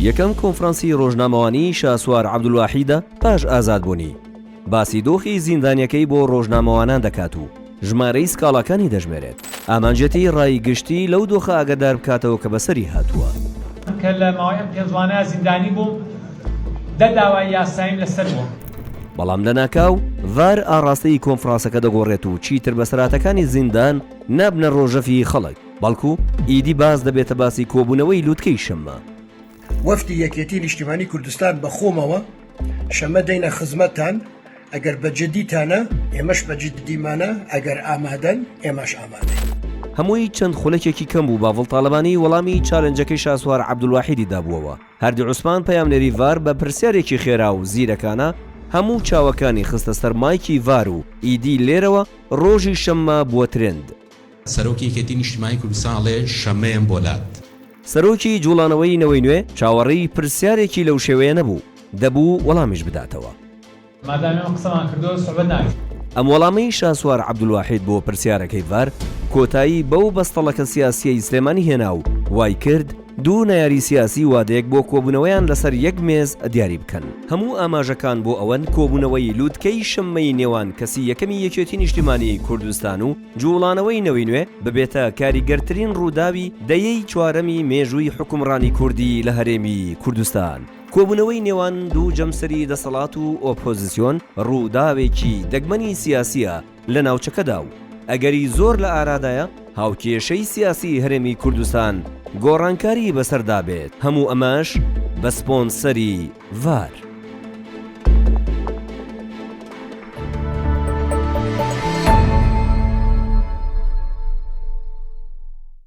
یەکەم کۆنفرانسی ڕۆژنامەوانیی شاسوار عەبدولواحیدە پاش ئازادبوونی، باسی دۆخی زیندانییەکەی بۆ ڕۆژنامەوانان دەکات و ژمارەی سکاڵاکانی دەژمێرێت، ئامانجێتی ڕای گشتی لەو دۆخە ئاگادار بکاتەوە کە بەسەری هاتووە. کە لە ماوەی ئەم پێنج ڕۆانەیا زیندانی بووم، دە داوای یاساییم لەسەر بووە. بەڵام لەناکاو ڤار ئاڕاستەی کۆنفراسەکە دەگۆڕێت و چیتر بەسەرهاتەکانی زیندان نابنە ڕۆژەڤی خەڵک. بەڵکو ئیدی باس دەبێتە باسی کۆبوونەوەی لووتکەی شەممە. وەفدی یەکێتی نیشتیمانی کوردستان بە خۆمەوە شەمە دێینە خزمەتتان، ئەگەر بە جدیتانە ئێمەش بە جددیمانە، ئەگەر ئامادەن ئێمەش ئامادەین. هەمووی چەند خولەکێکی کەم بوو باڤڵ تاڵەبانی وەڵامی چالێنجەکەی شاسوار عەبدولواحیدی دابووەوە. هەردی عوسمان پەیامنێری ڤار بە پرسیارێکی خێرا و زیرەکانە هەموو چاوەکانی خستە سەر مایکی ڤار و ئیدی لێرەوە رۆژی شەممە بووە ترێند. سەرۆکی یەکێتی نیشتیمانی کوردستان ئەڵێ شەمەیەم بۆ لات. سەرۆکی جوڵانەوەی نەوەی نوێ چاوەڕێی پرسیارێکی لەو شێوەیە نەبوو، دەبوو وەڵامیش بداتەوە. مادام ئێمە قسەمان کردووە سوعبەت ناکەین. ئەم وەڵامەی شاسوار عەبدولواحید بۆ پرسیارەکەی ڤار، کۆتایی بەو بەستەڵەکە سیاسییەی سلێمانی هێنا و وایکرد، دوو نەیاری سیاسی وادەیەک بۆ کۆبوونەوەیان لەسەر یەک مێز دیاری بکەن. هەموو ئاماژەکان بۆ ئەوەن کۆبوونەوەی لووتکەی شەممەی نێوان کەسی یەکەمی یەکێتی نیشتیمانیی کوردستان و جووڵانەوەی نەوەی نوێ ببێتە کاریگەرترین ڕووداوی دەیەی چوارەمی مێژووی حوکمڕانی کوردی لە هەرێمی کوردستان. کۆبوونەوەی نێوان دوو جەمسەری دەسەڵات و ئۆپۆزیسیۆن ڕووداوێکی دەگمەنی سیاسییە لە ناوچەکەدا و ئەگەری زۆر لە ئارادایە هاوکێشەی سیاسی هەرێمی کوردستان گۆڕانکاری بەسەردا بێت، هەموو ئەمەش بە سپۆنسەری ڤار.